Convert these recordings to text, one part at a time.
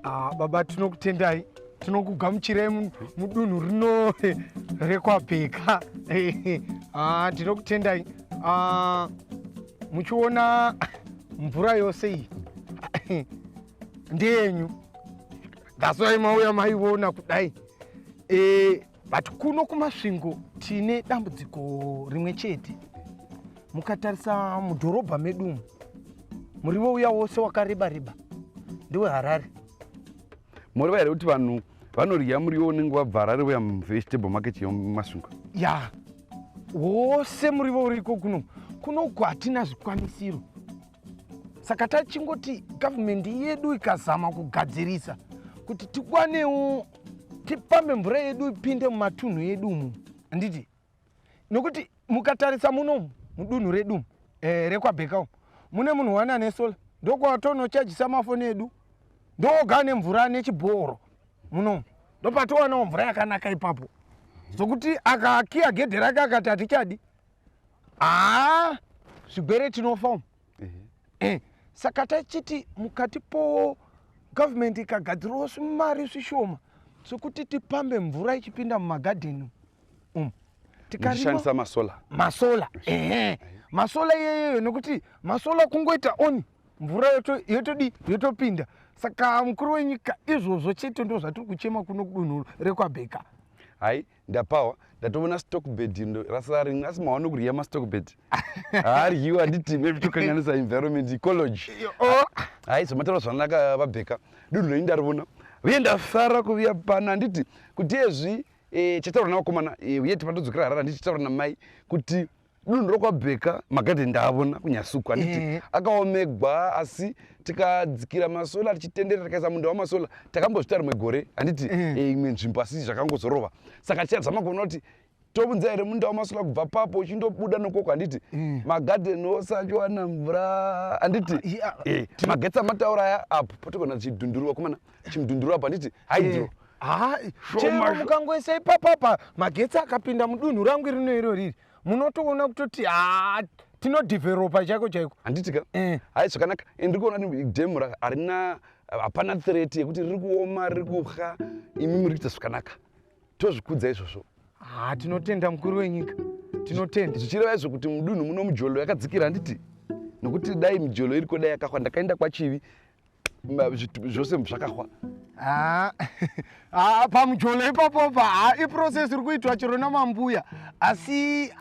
Ah, baba tinokutendai tinokugamuchirai mu- mudunhu rino rekwabheka Ah, tinokutendai Ah, muchiona mvura yose iyi ndeyenyu that's why mauya maiona kudai Eh, but kuno kumasvingo tine dambudziko rimwe chete mukatarisa mudhorobha medu umu murivo uya wose wakareba reba ndiwe harare moriva here kuti vanhu vanodya muriwo unenge wabva harare uya muvegetable market yemasvingo ya wose murivo uriko kuno kunoku hatina zvikwanisiro saka tachingoti government yedu ikazama kugadzirisa kuti tikwanewo tipambe mvura yedu ipinde mumatunhu edu umu handiti nokuti mukatarisa munomu mudunhu redu eh, rekwabheka umu mune munhu wani ane sola ndokwatonochajisa mafoni edu ndoga ane mvura ane chibhoro munomu ndopatowanawo mvura yakanaka ipapo zvokuti akakiya gedhe rake akati hatichadi aa zvigwere tinofa umu eh, saka tachiti mukati po government ikagadzirawo svimari svishoma sokuti tipambe mvura ichipinda mumagadheni umu tikarishandisa masola masola ehe masola iyeyeyo nokuti masola kungoita oni mvura yotodi yotopinda saka mukuru wenyika izvozvo chete ndo zvatiri kuchema kuno kudunhu rekwabheka hai ndapawa ndatoona stock bed rasara rimwe asi mawa nokurya mastock bed haaryiwa handiti maybe tokanganisa environment ecology oh. haizomatara zvanaka vabheka dunhu renyu ndarivona uye ndasara kuviya pana handiti kuti ezvi e, chataura navakomana e, uye tipatodzokera harara handiti chataura namai kuti dunhu rokwabheka makati ndaavona kunyasuku handiti mm. akaomegwa asi tikadzikira masola tichitendera tikaisa munda wamasola takambozvita rimwe gore handiti mm. Eh, e, imwe nzvimbo asi zvakangozorova saka tichadzama kuona kuti tobunza here munda wamasola kubva papo uchindobuda nokoko handiti mm. magadhen ose achiwana mvura handiti ah, eh, magetsi amataura aya apo potigona tichidhundurwa kumana chimudhunduru apa nditi hydro eh, ah, chero mukangoisa ipapapa magetsi akapinda mudunhu rangu irino iro riri munotoona kutoti haa ah, tinodeveropa chaiko chaiko handiti ka eh. hai zvakanaka ndiri kuona demu harina hapana threat yekuti riri kuoma riri kuha imi muri kuita zvakanaka tozvikudza izvozvo ha tinotenda mukuru wenyika tinotenda zvichireva izvo kuti mudunhu muno mujolo yakadzikira handiti nokuti dai mijolo iriko dai yakahwa ndakaenda kwachivi zvose zvakahwa ah, ah, pamujolo ipapo pa ah, iprocess iri kuitwa chero namambuya asi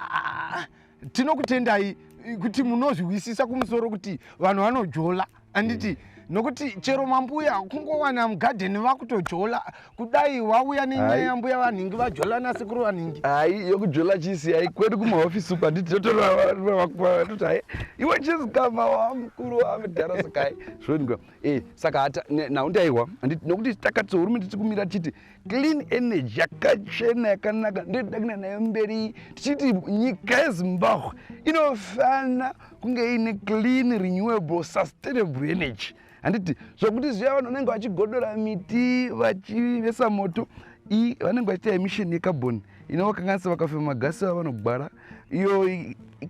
tinokutendai kuti munozvihwisisa kumusoro kuti vanhu vanojola anditi mm. nokuti chero mambuya kungowana mugadheni vakutojola kudai wauya nenyaya yambuya vanhingi vajola nasekuru vanhingi hai yokujola chisi hai kwedu kumahofisi uku handiti totoravakutoti hai iwe chisi kama wamukuru wamudhara sakai zvonika e eh, saka hata nhau ndaiwa handiti nokuti takati sohurumende tiri kumira tichiti clean energy yakachena yakanaka ndotoda kuenda nayo mberi tichiti nyika yezimbabwe inofana kunge iine clean renewable sustainable energy handiti zvokuti zviya vanhu vanenge vachigodora miti vachivesa moto i vanenge vachiita emission yecarbon inovakanganisa vakafema magasi ava vanogwara iyo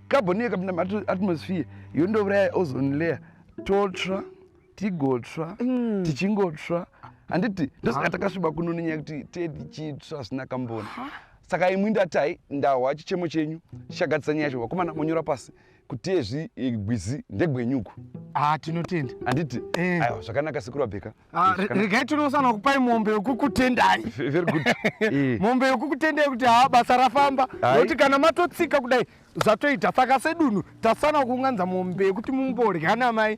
carbon iyo ikapinda muatmosphere yondouraya ozone layer totsva tigotsva mm. tichingotsva handiti ndosaka takasviba kuno nenyaya kuti tee tichitsva hazvina kamboni saka imwi ndatai ndahwa chichemo chenyu chichagadzisa nyaya yacho vakomana monyora pasi kutezvi gwizi ndegwenyuku ah tinotenda handiti eh. aiwa zvakanaka sekuru abheka ah, eh, regai tinosana kupai mombe yokukutendai very good eh. mombe yokukutendai kuti haa basa rafamba nokuti kana matotsika kudai zvatoita saka sedunhu tasana kuunganza mombe yekuti mumborya namai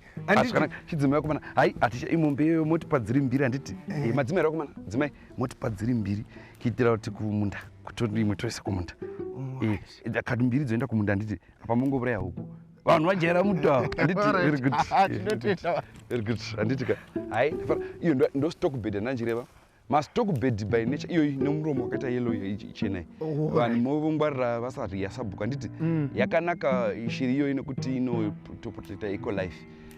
chidzimai vakomana hai hatisha imombe iyoyo motipa dziri mbiri handiti eh. madzimai rakomana dzimai motipa dziri mbiri kuitira kuti kumunda kuti imwe toisa kumunda kati mbiri dzoenda kumunda handiti apa mongouraya huku vanhu vajaira muda handiti ka hai iyo ndostokbed andanjireva mastokbed by nature iyoyi nemuromo wakaita yelo ichenai oh, vanhu movongwarira vasariyasabhuku handiti mm. yakanaka shiri iyoyi nekuti inotoprotecta eco life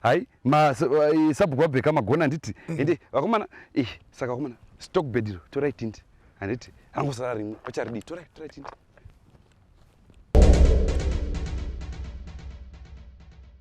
hai masabhuku eh, vabheka magona handiti mm. ende vakomana eh, saka vakomana stock bed iro torai tindi handiti angosara rimwe vacharidii torai torai tindi